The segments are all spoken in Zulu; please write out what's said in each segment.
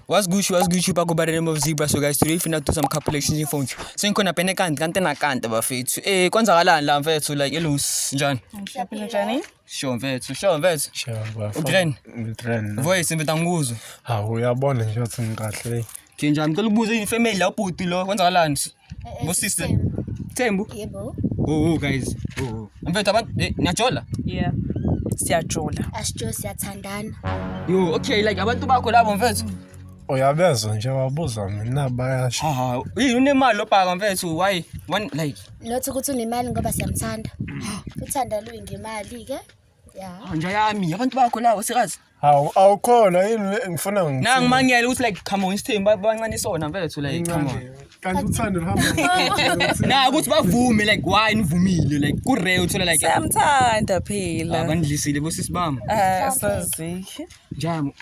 What's good, what's good, you back by the name of Zebra. So guys, today if you not do some couple exchange phones. So you gonna pene kant kante na kante ba fit. Eh, kwanza kala la mfethu like elus njani? Ngiyaphila njani? Sho mfethu, sho mfethu. Sho ba. Utren. Utren. Voice mfethu angikuzwa. Ha, uyabona nje ukuthi ngikahle. Nje njani ngicela ubuze ifamily la ubhuti lo kwanza kalani? Busise. Tembu. Yebo. Oh, oh guys. Oh. oh. Mfethu abantu eh, niyajola? Yeah. Siyajola. Asijo siyathandana. Yo, okay like abantu bakho labo mfethu. Uyabezwa nje wabuza mina bayasho. Ha, yini unemali lobhaka mfethu why one like. Not ukuthi unemali ngoba siyamthanda. Uthanda luyingemali ke. ya nja yami abantu bakho lawo sikazi hawu awukhona yini ngifuna ngifune. nangimangele ukuthi like come on isithembu ba- bancane isona mfethu like come on kanti uthando luhamba na ukuthi bavume like why nivumile like kurare uthola like Samthanda phela. abandlisile bosisi bami Ah, sazi. njani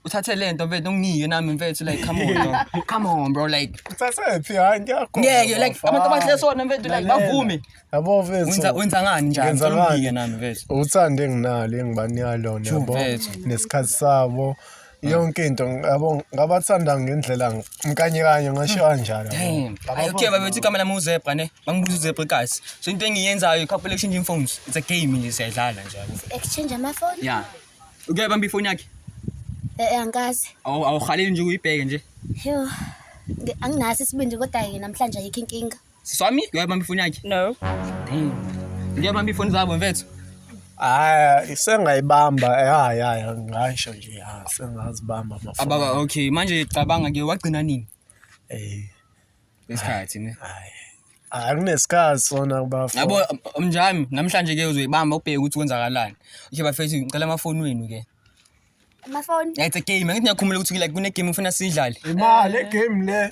uthathe le nto mfethu unginike nami mfethu like come on bro. come on bro like uthathephi hayi ngiyakho ngeke like abantu abahle sona mfethu like bavume yabo mfethu Wenza wenza ngani njani? Ngenza Ngicela ngani? ungibike nami mfethu. uthando enginalo engibanika lona True, yabo mfethu. nesikhathi sabo yonke into yabo ngabathanda ngendlela mkanye kanye ngasho kanjalo yabo. Damn. Yabo, Ayo okay babethi igama lami uzebra ne. Bangibuza uzebra guys. So into engiyenzayo couple exchanging phones. It's a game nje siyadlala nje. yabo. exchange amafoni Yeah. Uke bamba ifoni yakhe. Eh, angikaze Awu awuhaleli nje uyibheke nje. yo ngi- anginaso isibindi kodwa-ke namhlanje ayikho inkinga Siswami, uyabamba ifoni yakhe? No. Damn. Uyabamba ifoni zabo mfethu? Hayi, sengayibamba. Hayi, hayi, ngisho nje, ha, sengazibamba amafoni. Ababa, okay. Manje cabanga ke wagcina nini? Eh, Isikhathi ne. hayi. Hayi, kunesikhathi sona kubafo. Yabo mnjami namhlanje ke uzoyibamba ubheke ukuthi kwenzakalani. Okay bafethu ngicela amafoni wenu ke. Amafoni. Yeah, it's a game. Angithi niyakhumula ukuthi like kune game ufuna sidlale. Imali, game le.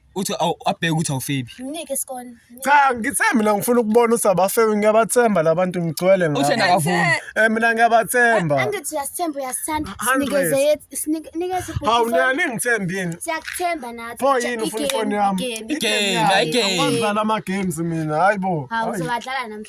uthi abheke ukuthi awufebi mnike isikole cha ngithembi mina ngifuna ukubona ukuthi abafebi ngiyabathemba labantu ngigcwele ngabo uthena akavumi eh mina ngiyabathemba angithi uyasithemba uyasithanda sinikeze yethu sinikeze hawu nani ngithembini siyakuthemba nathi pho yini ufuna ifoni yami igame igame ngidlala ama games mina hayibo hawu uzobadlala namhlanje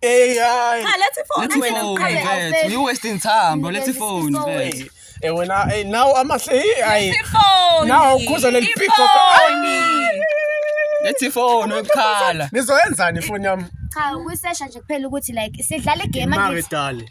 Hey, hayi. Cha lethi phone Lethi wena phone mqhawe mfethu. awufeli. You wasting time bro. Lethi phone mfethu. Hey, eh, wena hey, nawo amahle hey, hayi. Ifoni. Nawu ukhuza leli pick up. Ifoni. Lethi phone ukukhala. Nizoyenzani ifoni yami? Cha ukusesha nje kuphela ukuthi like sidlala igame Mari angithi. dali.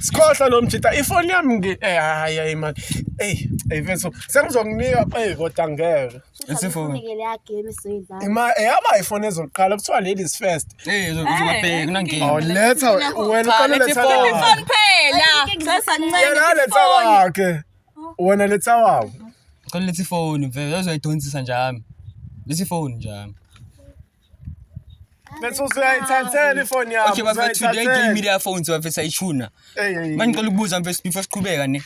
Sikhohlwa lo mjita ifoni yami ngi eh hayi hayi man. Ey, ey mfethu sengizokunika ey kodwa ngeke. Isifoni. Ngikele ya game soyidlala. Ima eyaba ifoni ezoqala kuthiwa ladies first. Eh uzobheka kunangeni. Oh letha wena uqale letha. Ifoni phela. Sasa ncane. Yena letha wakhe. Wena letha wakho. Qale letha ifoni mfethu uzoyidonsisa njami. Lesi phone njami. Bese uzayithathela ifoni yakho. Okay bafethu today game media phones bafethu ayishuna. Manje ngicela ukubuza mfethu before siqhubeka ne.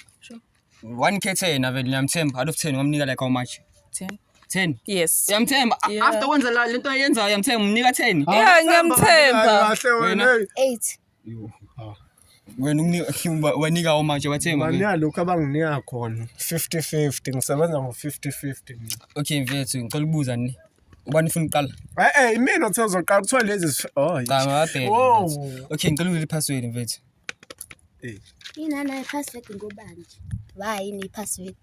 1k 10 avele ngiyamthemba out of 10 ngamnika like how much? 10. 10. Yes. Uyamthemba. Yeah. After wenza lento ayenzayo uyamthemba umnika 10. Yeah, ngiyamthemba. Kahle wena. 8. Yo, ah. wena unginika- wanika omanje wathenga Bani yalokhu abanginika khona 50-50 ngisebenza ngo-50-50 mina. okay mfethu ngicela ukubuza ni ubani ufuna ukuqala E-e imina othe uzoqala kuthiwa lezi zi- oh, yi- cha mabhele Wow. mfethu. okay ngicela ukuzela iphaswedi mfethu Eh, Inana ipassword ngobani? Wayi ni password.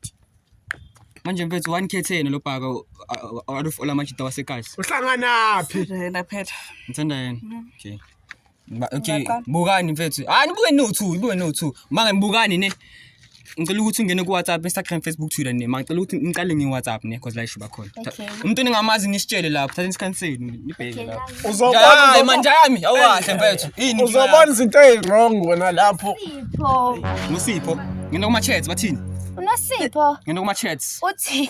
manje mfethu wanikhetheni lo bhaka alufola amajita wasekasi uhlanganaphi Laphetha. ngithanda yena okay Ba- Okay, Ngaqala. bukani mfethu. Ah nibuke no two, nibuke no two. Manje ngibukani ne. Ngicela ukuthi ungene ku WhatsApp, Instagram, Facebook, Twitter ne. Manje ngicela ukuthi ngiqale ngi WhatsApp ne because la isho bakhona. Okay. Umuntu ningamazi nisitshele lapho, thatha isikhathi senu nibheke Okay, lapho. nami. Uzobona Jayi uzobona- manje yami, awukahle mfethu. Yini? uzobona izinto eziwrong wena lapho. Sipho. Nosipho. Ngena kuma chats bathini? Unosipho. Ngena kuma chats. Uthi.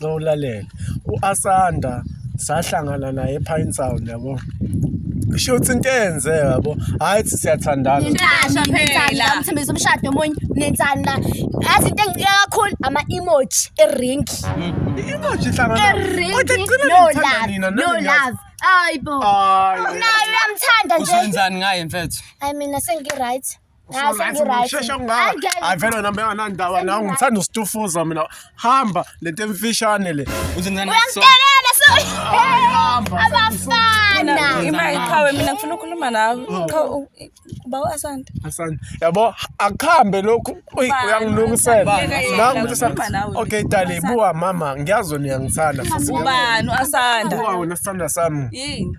nxa ulalele u-asanda sahlangana naye ephine sound yabo kusho ukuthi into eyenze yabo hhayi thi siyathandana Ngisho phela. umthembisa umshado omunye nenzani la yazi into engiqika kakhulu ama-emoji eringi inoji ihlangana eringi Kodwa ekugcineni no ngithanda love nina, no nami ngiyazi. love hayi bo Ay. nayo uyamthanda nje usenzani ngaye mfethu hayi mina sengi-right shesha kungaka avele wena mbe anandaba nawe ngithanda usitufuza mina hamba lento emfishane le uyangitelela so abafana imali qhawe mina ngifuna ukukhuluma nawe oh. uba uasanda asanda yabo akuhambe lokhu uyangilungisela nangu ukuthi okay dali buwa mama ngiyazi niyangithanda ubani uasanda buwa wena sithanda sami yini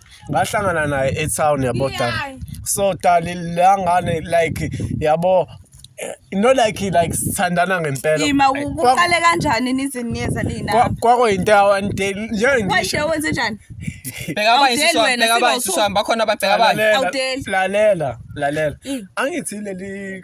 ngahlangana naye etown yabo dali so dali la ngane like yabo eh, no like like sithandana ngempela ima uqale kanjani niziniyeza lina kwako into yawan day nje ngisho why wenze njani bheka abanye siswa bheka abanye siswa bakhona ababheka abanye lalela lalela angithi leli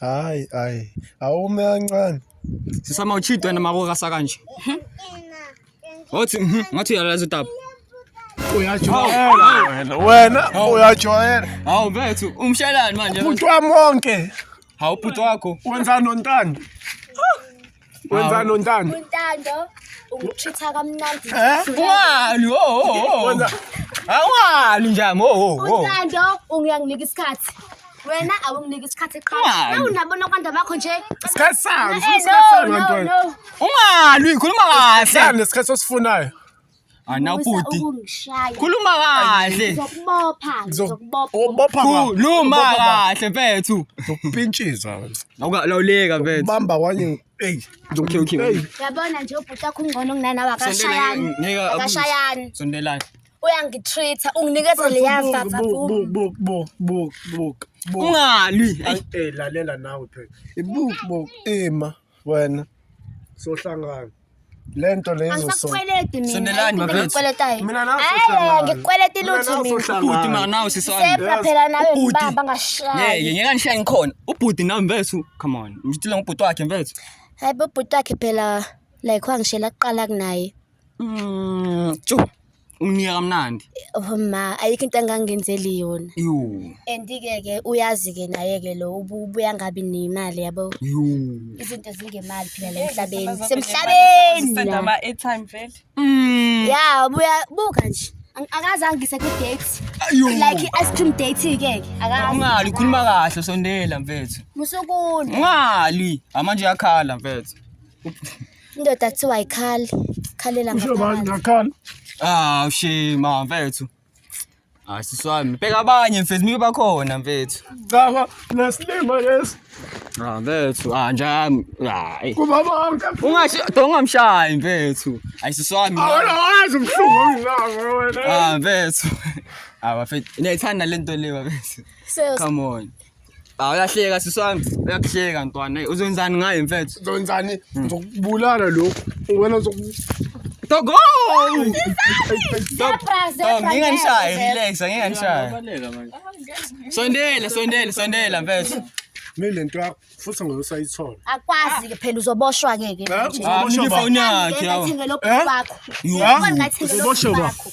Hayi hayi awume kancane. Sisama uchidwe wena makukasa kanje. Wathi mhm, ngathi uyalaza utaba. Uyajwayela wena. Wena uyajwayela. Hawu bethu umshelani manje. Umuntu wami wonke. Hawu bhuti wakho. Wenzani nontando? Wenzani untando? Untando ungitreat-a kamnandi. Wani? Oh, oh, oh. Awani njani? Oh, oh, oh. Untando ungiyanginika isikhathi. Wena awunginiki isikhathi qha. Awunabona kwanda bakho nje. Isikhathi sami, isikhathi sami ngantwana. Ungalwi, khuluma kahle. Isikhathi sosifunayo. Ana ubhuti. Khuluma kahle. Ngizokubopha. Ngizokubopha. Ubopha khuluma kahle mfethu. Ngizokupintshiza wena. Awukalawuleka mfethu. Ubamba kwanye. Hey. Okay okay. Uyabona nje ubhuti akho ungcono kunanawe akashayani. Akashayani. Sondelani. uyangitreat unginikeza leya vavabungalwi eh, eh, lalela nawe phela ibukbok ema eh, wena sohlangana lento leyo angisakukweleti mina Sondelani, mafethu. ngikukweletayo Mina nawe Eh, sohlangana. ngikukweleti Mina lutho nawe mina sohlangana. ubhuti ma nawe sisami sepha phela nawe Ubhuti. ngibamba ngeke ngashayi ngeke ngishaye ngikhona ubhuti nawe mfethu come on ngitshile ngobhuti wakhe mfethu hayi bobhuti wakhe phela like wangishela kuqala kunaye Mm, tjo umnika kamnandi Oh ma, ayikho into engangenzeli yona. yuu And-ke ke uyazi-ke naye-ke lo ubu- ubuya ngabi nemali yabo. yuu Izinto zingemali phela la emhlabeni. Senda Semhlabeni. ama-airtime vele Mm, Ya, buya buka nje. Ang- Akaze angise ku-date. yuu Like i-ice cream date-ke ke. Akazi. ungali ukhuluma kahle sondela mfethu Musukuni. ungali amanje yakhala mfethu Indoda kuthiwa ayikhali. Khalela Usho bani ngaphakathi. ngakhala? Ah, ushima mfethu. Hayi sisi wami, bheka abanye mfethu mike bakhona mfethu. Cha ba nesilima lesi. Ah mfethu, ah njami. Hayi. Kuba bonke. Ungashi dongamshayi mfethu. Hayi sisi wami. Awona wazi umhlungu onginako wena. Ah mfethu. Ah bafethu, niyayithanda lento le bafethu. So, Come on. Hawu uyahleka sisi wami. Uyakuhleka ntwana. Uzenzani ngaye mfethu? Uzenzani? Hmm. Ngizokubulala lo. Wena uzok Togo! Nginganishayi, relax, nginganishayi. Sondela, sondela, sondela mfethu. Mina lento yakho futhi ngeke usayithola. Akwazi ke phela uzoboshwa ke ke. Uzoboshwa yakhe. Uzoboshwa yakho.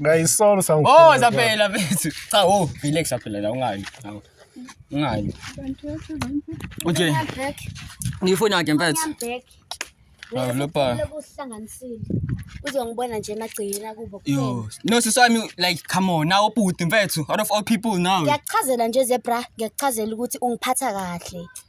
Ngayisolo Oh, sangifuna. zaphela mfethu. Cha, oh, relax zaphela la ungali. Hawu. Ungali. Unje, Back. ngifuna ke mfethu. Back. Hawu, lo pa. Lokuhlanganisile. Uzongibona nje emagcekeni akubo. kuphela. Yo, no sisami like come on, now bhuti mfethu, out of all people now. Ngiyakuchazela nje zebra, ngiyakuchazela ukuthi ungiphatha kahle.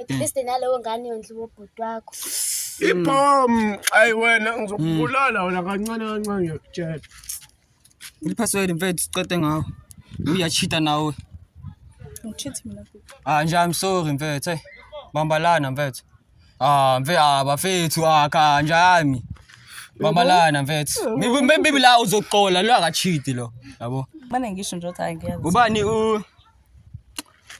at mm. least nalowo ngane yondliwa ubhuti wakho ibhom ayi wena ngizokubulala wena kancane kancane ngiyakutshela iliphasiweli mfethu siqede ngawo uyachita nawe ngichithe mina ah nje i'm sorry mfethu hey bambalana mfethu ah mfethu ah bafethu ah kanjani bambalana mfethu maybe la uzoxola lo akachiti lo yabo manje ngisho nje ukuthi hayi ngiyazi ubani u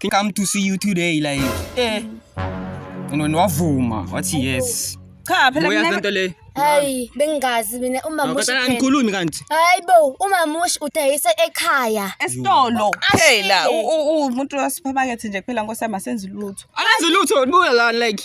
Can come to see you today like eh no niwavuma wathi yes Cha phela uyazi mina lento le hayi bengingazi mina umamushi kodwa phela angikhulumi kanti hayi bo umamushi udayisa ekhaya esitolo kuphela. U- u- u- Umuntu wasephakethe nje kuphela nkosi yami asenzi lutho. akenzi lutho nibuya la like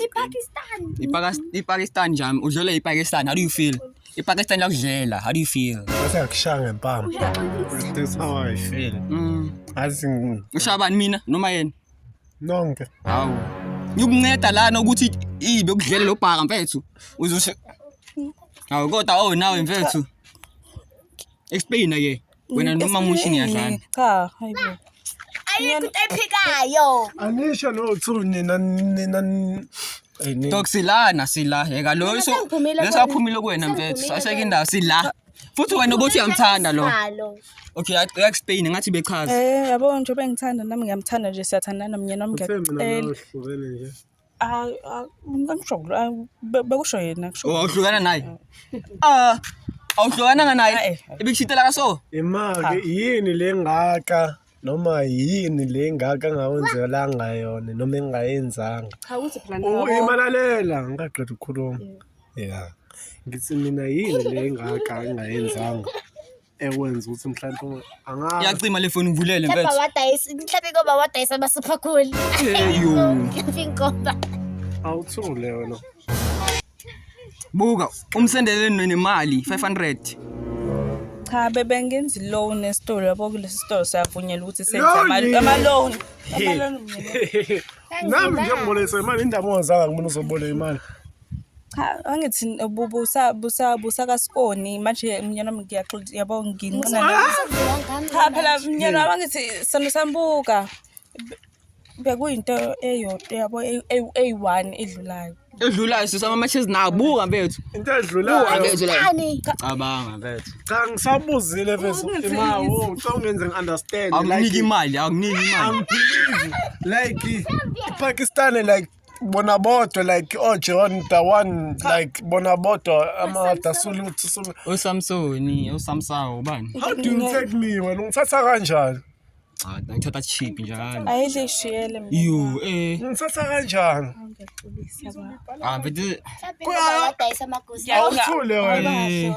IPakistan. IPakistan jam udlele iPakistan how do you feel? IPakistan lakudlela how do you feel? Bese yakushaya ngempama. That's how I feel. Mm. Azi ushabani mina noma yena? Nonke. Hawu. Ngikunceda lana ukuthi ibe kudlele lo bhaka mfethu. Uzoshe. Hawu kodwa oh nawe mfethu. Explain ke. Wena noma musho ngiyadlala. Cha, hayi bo. Ayikho into ephikayo. Anisho no tsu nina nina Dog silana sila yeka lo iso lesaphumile kuwena mfethu saseke indawo sila futhi wena ubuthi uyamthanda lo Okay uyak Spain ngathi bechaza Eh yabo nje bengithanda nami ngiyamthanda nje siyathandana mina nomngeke Eh Ah, ah, angisho kulo- ah, be- bekusho yena kusho Oh, awuhlukana naye ah awuhlukananga naye Ah, eh. ebikushitela kaso imake yini le ngaka noma yini le ngaka engawenzelanga yona noma engayenzanga cha ukuthi phela Oh, nabo imalalela ngingaqeda ukukhuluma ya ngithi mina yini le ngaka engayenzanga ekwenza ukuthi mhlawumbe unga- angazi Yacima le foni ngivulele Mhlawumbe mfethu. awadayisa, mhlawumbe inkoba awadayisa abasipha khulu. Eyo. Mhlawumbe inkoba. awuthule wena Buka umsendele nemali 500. Cha bebengenzi loan esitolo yabo kulesi sitolo siyavunyelwa ukuthi senze Loan? ama- ama-loan. Ama-loan nami njengibolekisa imali indaba ongazanga kumina uzoboleka imali Cha angithi busa kasikoni manje mnyana wami ngiyaxola yabo nginqina cha phela mnyana wami angithi sona sambuka bekuyinto eyodwa yabo eyi-one edlulayo edlulayo sisama amatshezi nabuka bethu into edlulacabanga bethu cha ngisabuzile bethu imawo oh, ngicela ungenze ngi-understand akunike imali akunike imali like ipakistani like bona bodwa like oh John the one like bona bodwa ama dasulu tsulu uSamsoni uSamsawo ubani how do you take me wena ungithatha kanjani ah ngithatha cheap njalo ayidle ishiyele mina you eh ungithatha kanjani ah bidi kodwa awuthule wena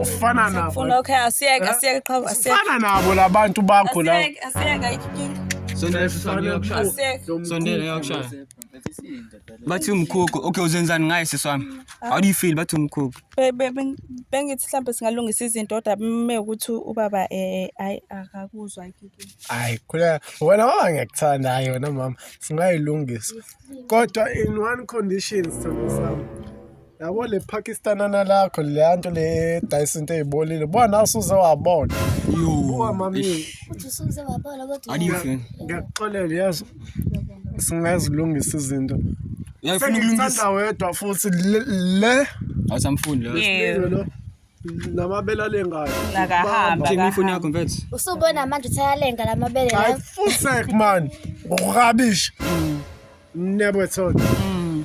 ufana nabo labantu bakho la bathi umkhukhu okay uzenzani ngaye siswami ah. how do you feel bathi umkhukhu bengithi mhlawumbe singalungisa izinto kodwa me ukuthi ubaba um ayi akakuzwa hayi khuleka wena waba ngiyakuthanda hayi wena mama singayilungisa kodwa in one condition sithando sami yabo le pakistanana lakho leya nto le dayisa into eyibolile buka nawe usuze wabona buka mami ngiyakuxolela yazi singazilungisa izinto sengithanda wedwa futhi le awusamfuni lo namabele alengayo nakahambaimfoni yakho mfethu usubona manje ukuthi ayalenga la mabele layo full sec man rubbish mm. never thought mm.